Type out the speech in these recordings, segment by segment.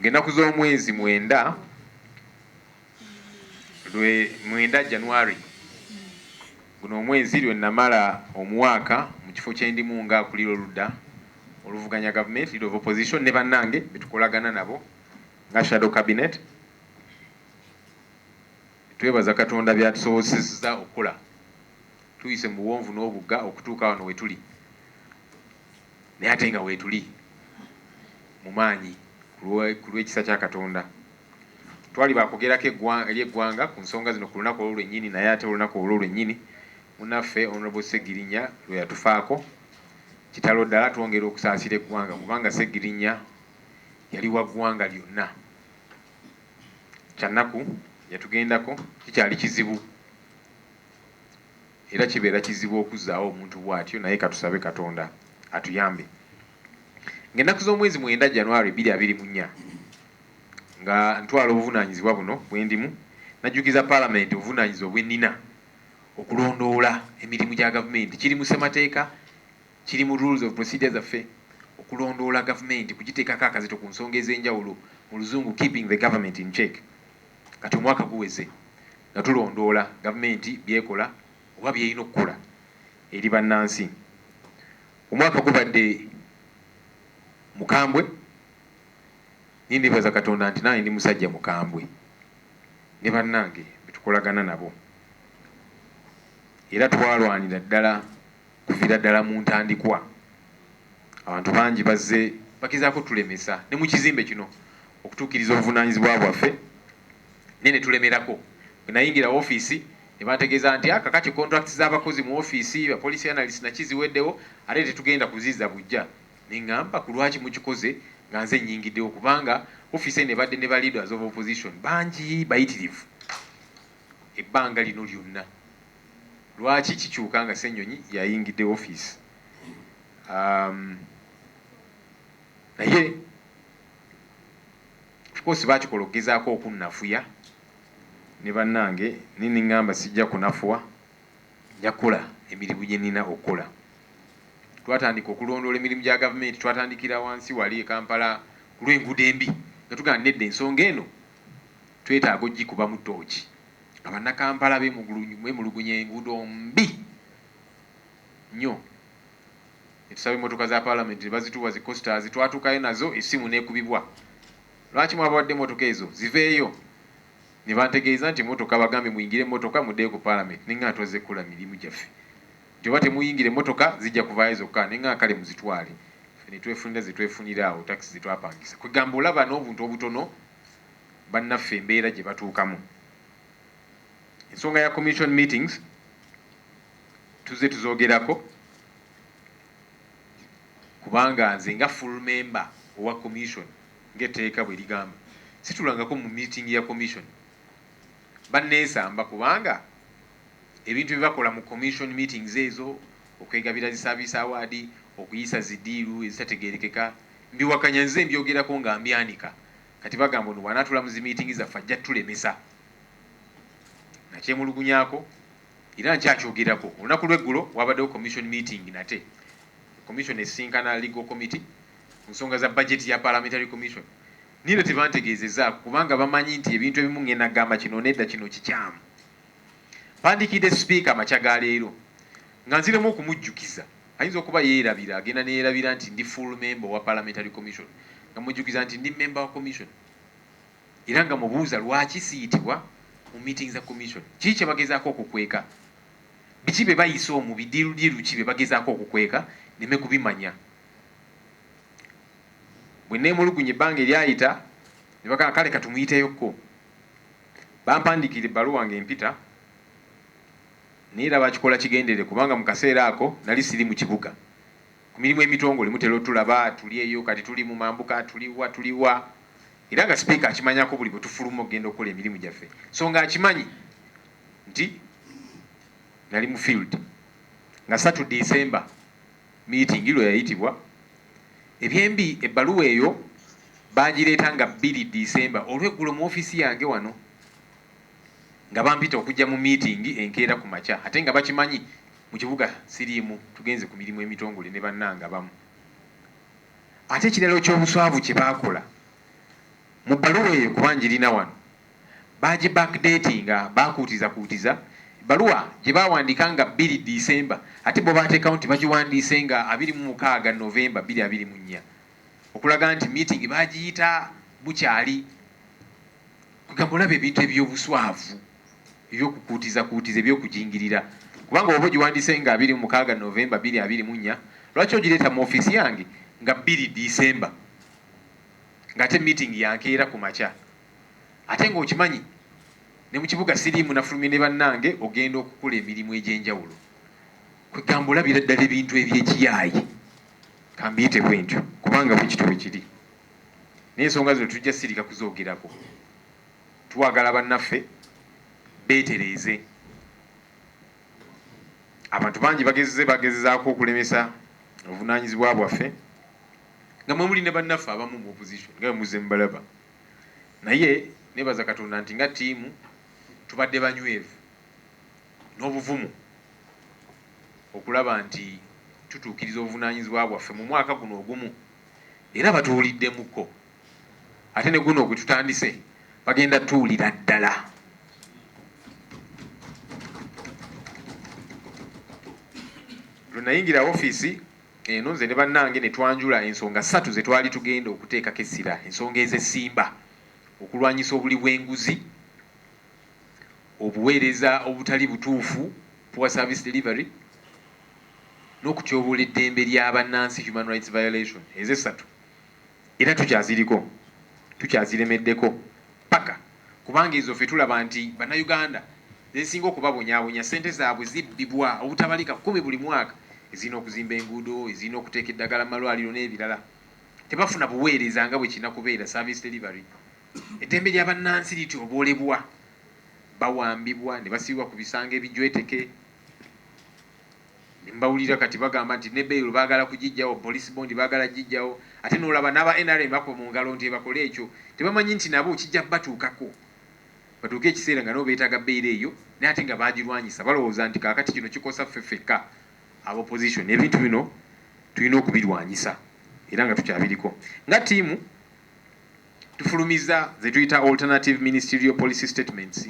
Ng'ennaku z'omwezi mwenda, lwe, mwenda, January, guno omwezi, lwe nnamala omwaka mu kifo kye ndimu nga akulira oludda oluvuganya gavumenti, Leader of Opposition, ne bannange be tukolagana nabo nga Shadow Cabinet, twebaza Katonda by'atusobozesezza okukola tuyise mu buwonvu n'obugga okutuuka wano we tuli. Naye ate nga weetuli mu maanyi ku lw'ekisa kya Katonda. Twali ba kwogerako eri eggwanga ku nsonga zino ku lunaku olwo lwennyini, naye ate olunaku olwo lwennyini munnaffe Honourable Ssegirinya lwe yatufaako, kitalo ddala, twongera okusaasira eggwanga kubanga Ssegirinya yali wa ggwanga lyonna. Kyannaku yatugendako, kikyali kizibu. Era kibeera kizibu okuzzaawo omuntu bw'atyo, naye ka tusabe Katonda atuyambe. Ng'ennaku z'omwezi mwenda, January bbiri abiri mu nnya, nga ntwala obuvunaanyizibwa buno bwe ndimu, najjukiza Palamenti obuvunaanyizibwa bwe nnina okulondoola emirimu gya Gavumenti. Kiri mu Ssemateeka, kiri mu Rules of Procedure zaffe, okulondoola Gavumenti, kugiteekako akazito ku nsonga ez'enjawulo, mu Luzungu, keeping the Government in check. Kati omwaka guweze. Nga tulondoola gavumenti by'ekola oba by'erina okukola eri bannansi, omwaka gubadde mukambwe naye neebaza Katonda nti nange ndi musajja mukambwe ne bannange be tukolagana nabo era twalwanira ddala kuviira ddala mu ntandikwa. Abantu bangi bazze bagezaako otulemesa ne mu kizimbe kino okutuukiriza obuvunaanyizibwa bwaffe. naye ne tulemerako. Bwe nayingira ofiisi ne bantegeeza nti, ah, kakati contracts z'abakozi mu ofiisi, ba policy analyst na ki ziweddewo ate tetugenda kuzizza buggya. Ne ngamba, ku lwaki mukikoze nga nze nnyingiddewo kubanga ofiisi eno ebadde ne ba leaders of opposition bangi bayitirivu ebbanga lino lyonna. Lwaki kikyuka nga Ssenyonyi yayingidde ofiisi? Um, naye Of course bakikola okugezaako okunnafuya ne bannange naye ne ngamba sijja kunafuwa nja kukola emirimu gye nnina okukola. Twatandika okulondoola emirimu gya gavumenti twatandikira wansi wali e Kampala ku lw'enguudo embi nga tugamba nti nedda ensonga eno twetaaga okugikubamu ttooci nga Bannakampala beemulugunya enguudo mbi nnyo. ne tusaba emmotoka za Palamenti ne bazituwa zi Costers, twatuukayo nazo essimu n'ekubibwa lwaki mwabawadde emmotoka ezo ziveeyo ne bantegeeza nti emmotoka bagambye muyingire emmotoka muddeyo ku Palamenti ne ng'ana twazze kukola mirimu gyaffe nti oba temuyingira emmotoka zijja kuvaayo zokka ne ng'ana kale muzitwale ffe ne twefunira ze twefunira awo takisi ze twapangisa kwegamba olaba n'obuntu obutono bannaffe embeera gye batuukamu. Ensonga ya Commission meetings. Tuzze tuzogerako kubanga nze nga full member owa commission nga etteeka bwe ligamba situlangako mu meeting ya commission. Banneesamba kubanga ebintu bye bakola mu commission meetings ezo, okwegabira zi service award, okuyisa zi diiru ezitategeerekeka mbiwakanya nze mbyogerako nga mbyanika kati bagamba ono bw'anaatuula mu zi meeting zaffe ajja tulemesa. Nakyemulugunyaako. Era nkyakyogerako, olunaku lw'eggulo waabaddewo commission meeting nate, commission esisinkana legal committee ku nsonga za budget ya parliamentary commission, neither tebantegeezezaako kubanga bamanyi nti ebintu ebimu ngenda gamba kino nedda kino kikyamu. Mpandiikidde sipiika amakya ga leero nga nziremu okumujjukiza, ayinza okuba yeerabira agenda neyerabira nti ndi full member owa parliamentary commission nga mujjukiza nti ndi member wa commission. Era nga mubuuza lwaki siyitibwa mu meeting za commission, kiki kyebagezaako okukweka, biki byebayisa omu, bidiirudiiru ki byebagezaako okukweka neme kubimanya. Bweneemulugunya ebbanga eryayita nebagamba kale katumuyiteyo ko. Bampandiikira ebbaluwa nga empita naye era bakikola kigenderere kubanga mu kaseera ako nali siri mu kibuga. Ku mirimu emitongole mutera otulaba tuli eyo kati tuli mu mambuka, tuli wa, tuli wa era nga Sipiika akimanyako buli bwe tufuluma okugenda okukola emirimu gyaffe so nga akimanyi nti nali mu field nga ssatu December miitingi lwe yayitibwa. Ebyembi ebbaluwa eyo baagireeta nga bbiri December olweggulo mu ofiisi yange wano nga bampita okujja mu miitingi enkeera ku makya ate nga bakimanyi Mu kibuga siriimu tugenze ku mirimu emitongole ne bannange abamu. Ate ekirala oky'obuswavu kye baakola, mu bbaluwa eyo kuba ngirina wano, baagibackdatinga, baakuutizakuutiza ebbaluwa gye baawandiika nga bbiri December ate bo baateekawo nti bagiwandiise nga abiri mu mukaaga November bbiri abiri mu nnya okulaga nti miitingi baagiyita bukyali. Kwegamba olaba ebintu eby'obuswavu. eby'okukuutizakuutiza, eby'okujingirira, kubanga bw'oba ogiwandiise nga abiri mu mukaaga Noovemba bbiri abiri mu nnya, lwaki ogireeta mu ofiisi yange nga bbiri Ddiisemba, ng'ate miitingi ya nkeera ku makya? Ate ng'okimanyi ne mu kibuga siriimu nafulumye ne bannange ogenda okukola emirimu egy'enjawulo. Kwegamba olabira ddala ebintu eby'ekiyaaye, ka mbiyite bwentyo, kubanga bwe kityo bwe kiri. Naye ensonga zino tujja sirika kuzoogerako. Twagala bannaffe beetereeze. Abantu bangi bagezze bagezaako okulemesa obuvunaanyizibwa bwaffe nga mwe muli ne bannaffe abamu mu opposition nga bwe muzze mubalaba naye neebaza Katonda nti nga ttiimu tubadde banywevu n'obuvumu okulaba nti tutuukiriza obuvunaanyizibwa bwaffe mu mwaka guno ogumu era batuwuliddemukko. ate ne guno ogututandise bagenda tuwulira ddala lwe nayingira ofiisi eno nze ne bannange ne twanjula ensonga ssatu ze twali tugenda okuteekako essira ensonga ezesimba okulwanyisa obuli bw'enguzi obuweereza obutali butuufu poor service delivery n'okutyoboola eddembe lya bannansi human rights violation ez'essatu Era tukyaziriko, tukyaziremeddeko ppaka kubanga ezo ffe tulaba nti Bannayuganda ze zisinga okubabonyaabonya. Ssente zaabwe zibbibwa obutabalika kkumi buli mwaka, ezirina okuzimba enguudo, ezirina okuteeka eddagala mu malwaliro n'ebirala. Tebafuna buweereza nga bwe kirina kubeera, service delivery. Eddembe lya bannansi lityoboolebwa, bawambibwa ne basibibwa ku bisanga ebijweteke. Ne mbawulira kati bagamba nti ne bail baagala kugijjawo, police bond baagala kugijjawo ate n'olaba n'aba nrm bakuba mu ngalo nti ebakole ekyo. Tebamanyi nti nabo kijja kubatuukako batuuke ekiseera nga nabo beetaaga bail eyo naye ate nga baagirwanyisa. Balowooza nti kaakati kino kikosa ffe ffekka aba opposition. Ebintu bino tulina okubirwanyisa era nga tukyabiriko. Nga ttiimu tufulumizza ze tuyita alternative ministerial policy statements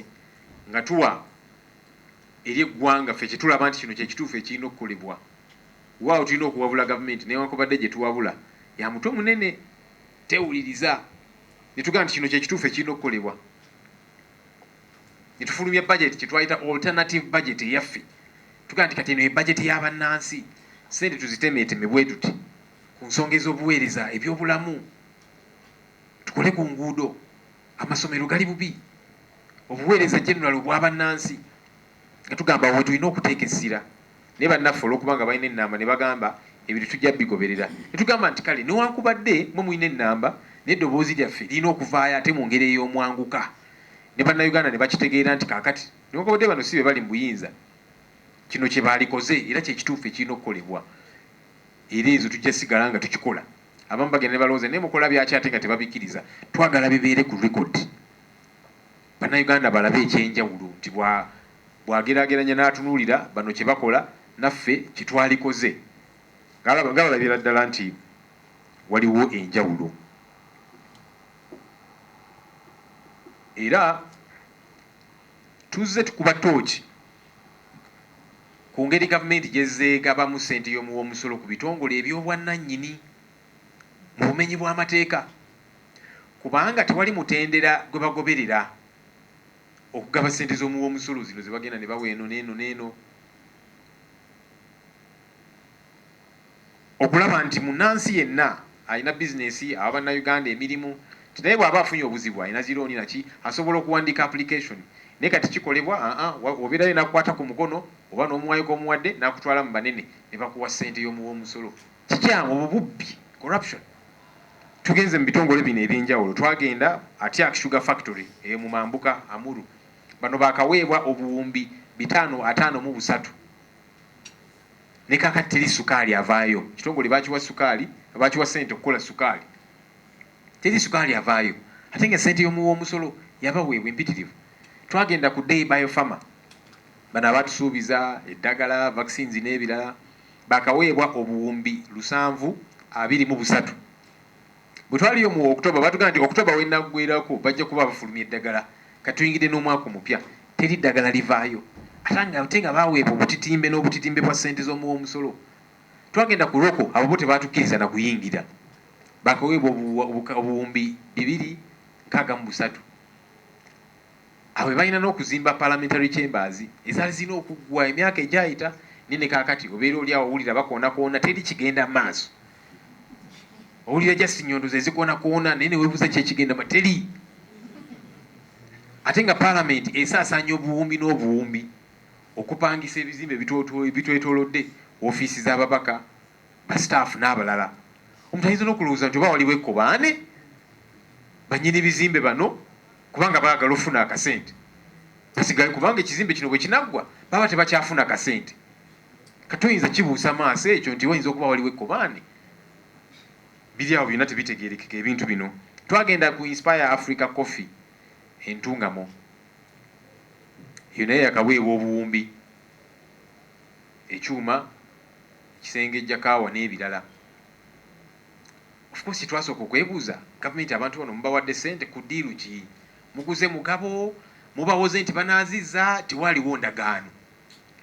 nga tuwa eri eggwanga ffe kyetulaba nti kino kyekituufu ekirina okukolebwa wewaawo tulina okuwabula gavumenti newankubadde gyetuwabula yamutwe munene tewuliriza netugamba nti kino kyekituufu ekirina okukolebwa netufulumya budget kyetwayita alternative budget eyaffe tugamba nti kati eno ye budget ya bannansi sente tuzitemeeteme bwetuti ku nsonga ez'obuweereza ebyobulamu tukole ku nguudo amasomero gali bubi obuweereza general obwa bannansi nga tugamba wetulina okuteeka essira naye bannaffe olwokuba nga balina ennamba ne bagamba ebintu tujja bigoberera ne tugamba nti kale newankubadde mwe mulina ennamba naye eddoboozi lyaffe lirina okuvaayo ate mu ngeri ey'omwanguka ne bannayuganda ne bakitegeera nti kaakati newankubadde bano si be bali mu buyinza kino kye baalikoze era kye kituufu ekirina okukolebwa era ezo tujja sigala nga tukikola abamu bagenda ne balowooza naye mukola byaki ate nga tebabikkiriza twagala bibeere ku rekodi Bannayuganda balabe ekyenjawulo nti bw'ageraageranya n'atunuulira bano kye bakola naffe kye twalikoze nga balabira ddala nti waliwo enjawulo era tuzze tukuba ttooki ku ngeri gavumenti gy'ezze egabamu ssente y'omuwi w'omusolo ku bitongole eby'obwannannyini mu bumenyi bw'amateeka kubanga tewali mutendera gwe bagoberera okugaba ssente z'omuwi w'omusolo zino ze bagenda ne bawa eno n'eno n'eno okulaba nti munnansi yenna alina bizinesi awa Bannayuganda emirimu nti naye bw'aba afunye obuzibu alina zi looni naki asobola okuwandiika application naye kati kikolebwa aa obeerayo n'akukwata ku mukono oba n'omuwayo g'omuwadde n'akutwala mu banene ne bakuwa ssente y'omuwi w'omusolo. Kikyamu obwo bubbi, corruption. Tugenze mu bitongole bino ebyenjawulo, twagenda Atiak Sugar Factory eyo mu mambuka, Amuru, bano baakaweebwa obuwumbi bitaano ataano mu busatu, ne kaakati teri sukaali avaayo. Ekitongole baakiwa sukaali, baakiwa ssente okukola sukaali, teri sukaali avaayo ate nga ssente y'omuwi w'omusolo yabaweebwa empitirivu. Twagenda ku Dei Bio Pharma, bano abaatusuubiza eddagala, vaccines n'ebirala. baakaweebwa obuwumbi lusanvu abiri mu busatu. Bwe twaliyo mu October baatugamba nti October w'enaggweerako bajja kuba bafulumya eddagala. Kati tuyingidde n'omwaka omupya teri ddagala livaayo ate nga baaweebwa obutitimbe n'obutitimbe bwa ssente z'omuwi w'omusolo. Twagenda ku Roko abo bo tebaatukkiriza na kuyingira. Baakaweebwa obuwumbi bibiri nkaaga mu busatu. Abo be balina n'okuzimba Parliamentary Chambers ezaali zirina okuggwa emyaka egyayita. Naye ne kaakati obeera oli awo owulira bakoonakoona, teri kigenda maaso. Owulira just nnyondo ze zikoonakoona naye ne weebuuza ki ekigenda maaso, teri. Ate nga Palamenti esaasaanya obuwumbi n'obuwumbi, okupangisa ebizimbe ebitwetolodde, woofiisi z'ababaka, ba staff n'abalala omuntu ayinza n'okulowooza nti oba waliwo ekkobaane bannyini bizimbe bano kubanga baagala ofuna akasente basigale kubanga ekizimbe kino bwe kinaggwa baba tebakyafuna kasente kati oyinza kibuusa maaso ekyo nti wayinza okuba waliwo ekkobaane biri awo byonna tebitegeerekeka ebintu bino twagenda ku inspire africa coffee entungamo eyo naye yakaweebwa obuwumbi ekyuma ekisengejja kaawa n'ebirala. Of course kye twasooka okwebuuza, gavumenti abantu bano mubawadde ssente ku ddiiru ki? Muguze mugabo? Mubawoze nti banaazizza? Tewaaliwo ndagaano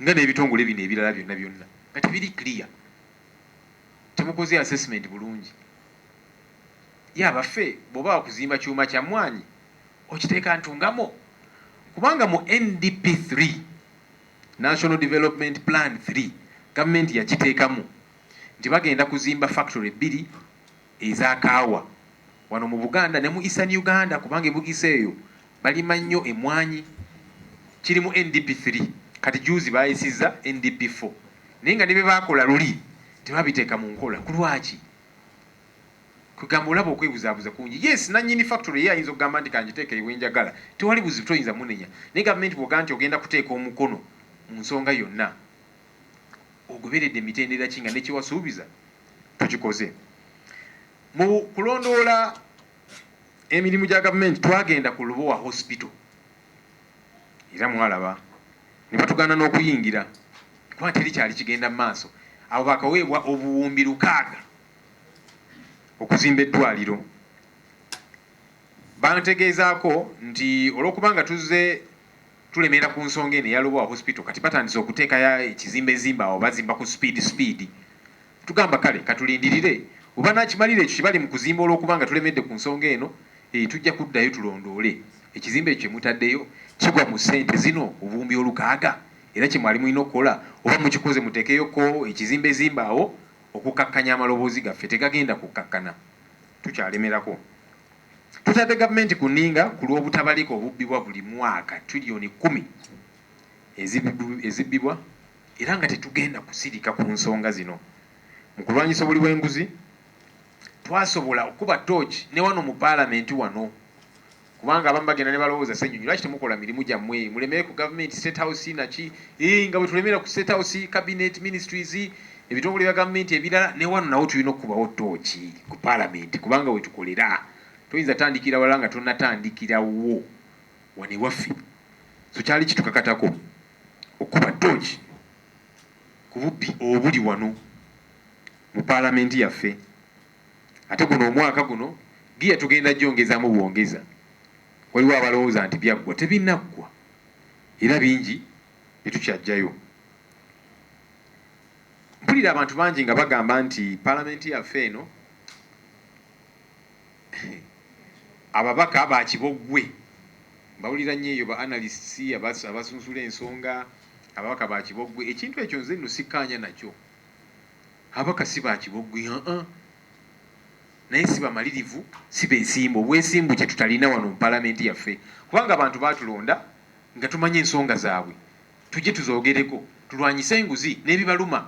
nga n'ebitongole bino ebirala byonna byonna nga tebiri clear. Temukoze assessment bulungi. Ye abaffe bw'oba wakuzimba kyuma kya mmwaanyi okiteeka Ntungamo? Kubanga mu NDP three, National Development Plan Three gavumenti yakiteekamu nti bagenda kuzimba factory bbiri eza kaawa wano mu Buganda ne mu Eastern Uganda kubanga e Bugisu eyo balima nnyo emmwanyi. Kiri mu NDP Three kati jjuuzi baayisizza NDP Four naye nga ne bye baakola luli tebabiteeka mu nkola. Ku lwaki? Kwegamba olaba okwebuzabuza kungi. Yes nanyini factory ye ayinza okugamba nti kanjiteeke eyo wenjagala tewali buzibu toyinza munenya naye gavumenti bwogamba nti ogenda kuteeka omukono munsonga yonna ogoberedde mitendera ki nga nekyewasuubiza tokikoze. Mu kulondoola emirimu gya gavumenti twagenda ku Lubowa hospital era mwalaba nebatugaana nokuyingira kuba teri kyali kigenda maaso abo bakaweebwa obuwumbi lukaaga okuzimba eddwaliro bantegeezaako nti olw'okuba nga tuzze tulemera ku nsonga eno eya Lubowa Hospital kati batandise okuteeka ekizimba ezimba awo bazimba ku sipiidi sipiidi tugamba kale katulindirire we banaakimalira ekyo kye bali mu kuzimba olw'okuba nga tulemedde ku nsonga eno eh, tujja kuddayo tulondoole ekizimba ekyo kye mutaddeyo kigwa mu ssente zino obuwumbi olukaaga era kye mwali mulina okukola oba mukikoze muteekeyoko ekizimba ezimba awo Okukkakkanya amaloboozi gaffe tegagenda kukkakkana. Tukyalemerako. Tutadde gavumenti ku nninga ku lw'obutabalika obubbibwa buli mwaka trillioni kkumi ezibbibwa era nga tetugenda kusirika ku nsonga zino. Mu kulwanyisa obuli bw'enguzi, twasobola okukuba ttooci ne wano mu Palamenti wano Kubanga abamu bagenda nebalowooza ssenyonyi lwaki temukola mirimu gyammwe mulemere ku government state house naki ii nga bwetulemera ku state house, cabinet, ministries, ebitongole bya government ebirala newano nawo tulina okukubawo tooki ku parliament kubanga wetukolera toyinza tandikira wala nga tonatandikirawo wano ewaffe so kyali kitukakatako okukuba tooki ku bubbi obuli wano mu parliament yaffe. Ate guno omwaka guno giya tugenda gyongezaamu bwongeza. Waliwo abalowooza nti byaggwa, tebinaggwa era bingi bye tukyaggyayo. Mpulira abantu bangi nga bagamba nti Palamenti yaffe eno ababaka ba kiboggwe. Mbawulira nnyo eyo ba analysts abasunsula ensonga, ababaka ba kiboggwe. Ekintu ekyo nze nno sikkaanya nakyo. Ababaka si ba kiboggwi, uh-uh, naye si bamalirivu, si beesimbu. Obwesimbu kye tutalina wano mu Palamenti yaffe kubanga abantu baatulonda nga tumanyi ensonga zaabwe tujje tuzoogereko tulwanyise enguzi n'ebibaluma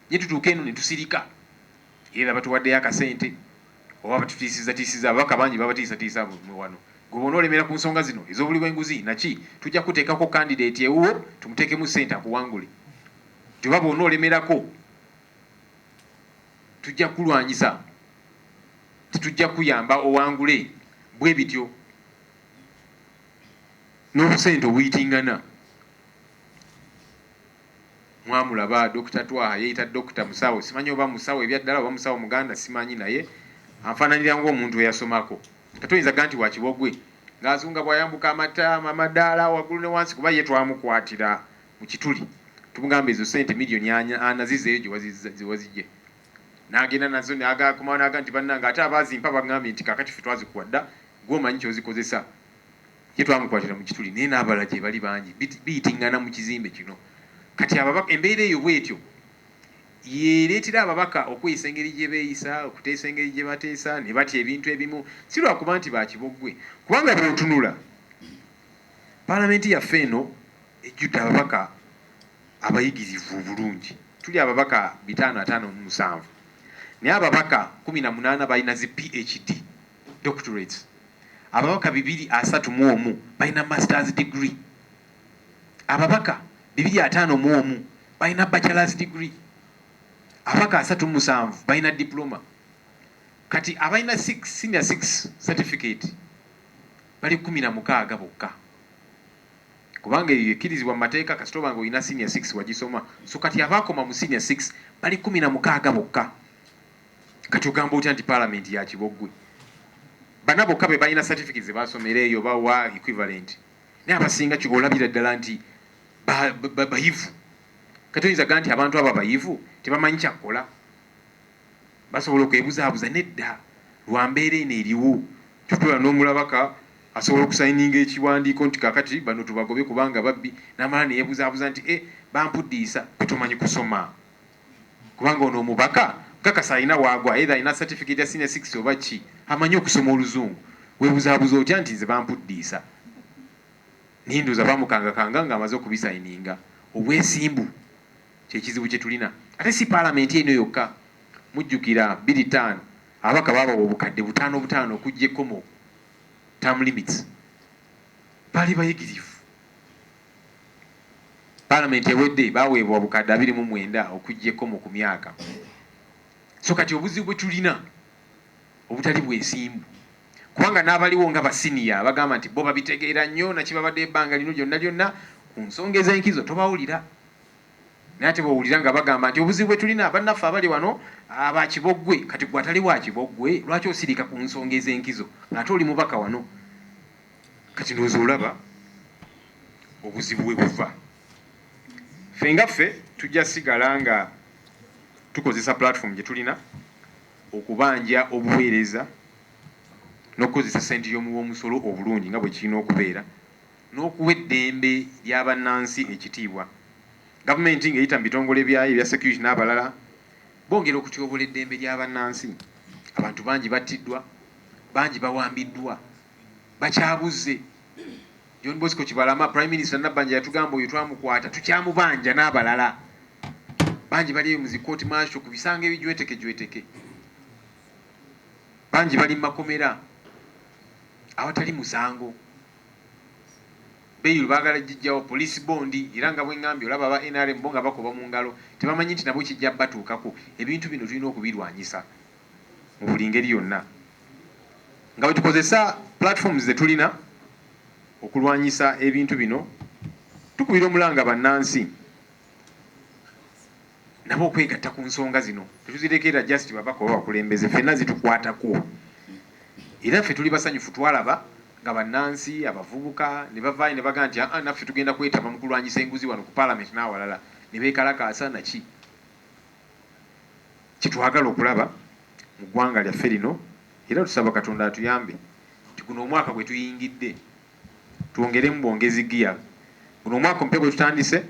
naye tutuuka eno ne tusirika era batuwaddeyo akasente oba batutiisizzatiisizza. Ababaka bangi babatiisatiisa wano. Gwe bwona olemera ku nsonga zino ez'obuli bw'enguzi naki tujja kukuteekako kandideeti ewuwo tumuteekemu ssente akuwangule. Joba bwona olemerako tujja kukulwanyisa tetujja kuyamba owangule bwebityo nobusente obuyitingana mwamulaba Dokita Twaha yeyita Dokita musawo simanyi oba musawo ebyaddala oba musawo muganda simanyi naye anfananira ngomuntu eyasomako ate oyinza ga nti wakibogwe nga azunga bwayambuka amataama amadaala wagulu ne wansi kuba ye twamukwatira mu kituli tumugamba ezo sente million ana zizeyo jewazijje nagenda nazo nagakomawo naga nti banange ate abazimpa bagambye nti kakati fe twazikuwa dda gwe omanyi kyozikozesa ye twamukwatira mu kituli naye nabala gyebali bangi biyitingana mu kizimbe kino kati ababaka embeera eyo bwetyo yereetera ababaka okweyisa engeri gye beeyisa okuteesa engeri gye bateesa ne batya ebintu ebimu si lwakuba nti bakiboggwe kubanga bw'otunula paalamenti yaffe eno ejjudde ababaka abayigirivu obulungi. Tuli ababaka bitaano ataano mu musanvu naye ababaka kkumi na munaana balina zi PHD, doctorates. Ababaka bibiri asatu mu omu balina Masters degree. Ababaka bibiri ataano mu omu balina Bachelors degree. Ababaka asatu mu musanvu balina Diploma. Kati abalina six, senior six certificate bali kkumi na mukaaga bokka. Kubanga eyo yekirizibwa mumateeka kasita oba nga olina senior six wagisoma so kati abaakoma mu senior six bali kumi na mukaaga bokka kati ogamba otya nti parliament yakiboggwe bana bokka bebalina certificate zebasomera eyo oba wa equivalent naye abasinga ki olabira ddala nti bayivu kati oyinza ga nti abantu abo abayivu tebamanyi kyakkola Basobola okwebuzaabuza? Nedda. Lwa mbeera eno eriwo, tutuula n'omulabaka, asobola okusayininga ekiwandiiko nti, Kaakati, bano tubagobe kubanga babbi, n'amala ne yeebuzaabuza nti, Eh, bampuddiisa. Ffe tumanyi kusoma. Kubanga ono omubaka, nkakasa alina w'agwa, either alina certificate ya Senior Six oba ki, amanyi okusoma Oluzungu. Weebuzaabuza otya nti, Nze bampuddiisa? Naye ndowooza baamukangakanga nga amaze okubisayininga. Obwesimbu! Kyekizibu kyetulina ate si palamenti eno yokka mujjukira bbiri taano ababaka baabawa obukadde butaano butaano okujja ekkomo term limits baali bayigirivu palamenti ewedde baweebwa obukadde abiri mu mwenda okujja ekkomo ku myaka so kati obuzibu bwetulina obutali bwesimbu kubanga n'abaliwo nga basiniya bagamba nti bo babitegeera nnyo nakibabadde ebbanga lino lyonna lyonna ku nsonga ez'enkizo tobawulira. Naye ate bw'owulira nga bagamba nti obuzibu bwe tulina bannaffe abali wano ba kiboggwe, kati ggwe atali wa kiboggwe lwaki osirika ku nsonga ez'enkizo ng'ate oli mubaka wano? Kati ndowooza olaba obuzibu we buva. Ffe nga ffe tujja sigala nga tukozesa platform gye tulina okubanja obuweereza n'okukozesa ssente y'omuwi w'omusolo obulungi nga bwe kirina okubeera n'okuwa eddembe lya bannansi ekitiibwa. Gavumenti ng'eyita mu bitongole byayo ebya security n'abalala bongera okutyoboola eddembe lya bannansi. Abantu bangi battiddwa, bangi bawambiddwa, bakyabuzze. John Bosco Kibalama, Prime Minister Nabbanja yatugamba oyo twamukwata, tukyamubanja n'abalala bangi bali eyo mu zi court martial ku bisango ebijwetekejweteke. Bangi bali mu makomera awatali musango. Bail bagala jijjawo police bond era nga bwengambye olaba aba nrm bo nga bakuba mungalo tebamanyi nti nabo kijja batuukako ebintu bino tulina okubirwanyisa mu buli ngeri yonna nga bwetukozesa platforms zetulina okulwanyisa ebintu bino tukubira omulanga bannansi nabo okwegatta ku nsonga zino. Tetuzirekerera just babaka oba bakulembeze, ffenna zitukwatako era ffe tuli basanyufu twalaba nga bannansi, abavubuka ne bavaayo ne bagamba nti aa naffe tugenda kwetaba mu kulwanyisa enguzi wano ku Palamenti n'awalala ne beekalakaasa naki kye twagala okulaba mu ggwanga lyaffe lino era tusaba Katonda atuyambe nti guno omwaka gwe tuyingidde twongeremu bwongezi ggiya. Guno omwaka omupya gwe tutandise.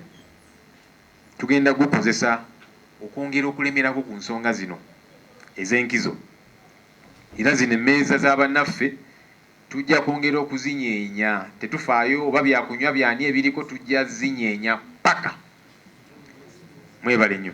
Tugenda gukozesa okwongera okulemerako ku nsonga zino ez'enkizo era zino emmeeza za bannaffe tujja kwongera okuzinyeenya tetufaayo oba bya kunywa by'ani ebiriko tujja zinyeenya ppaka. Mwebale nnyo.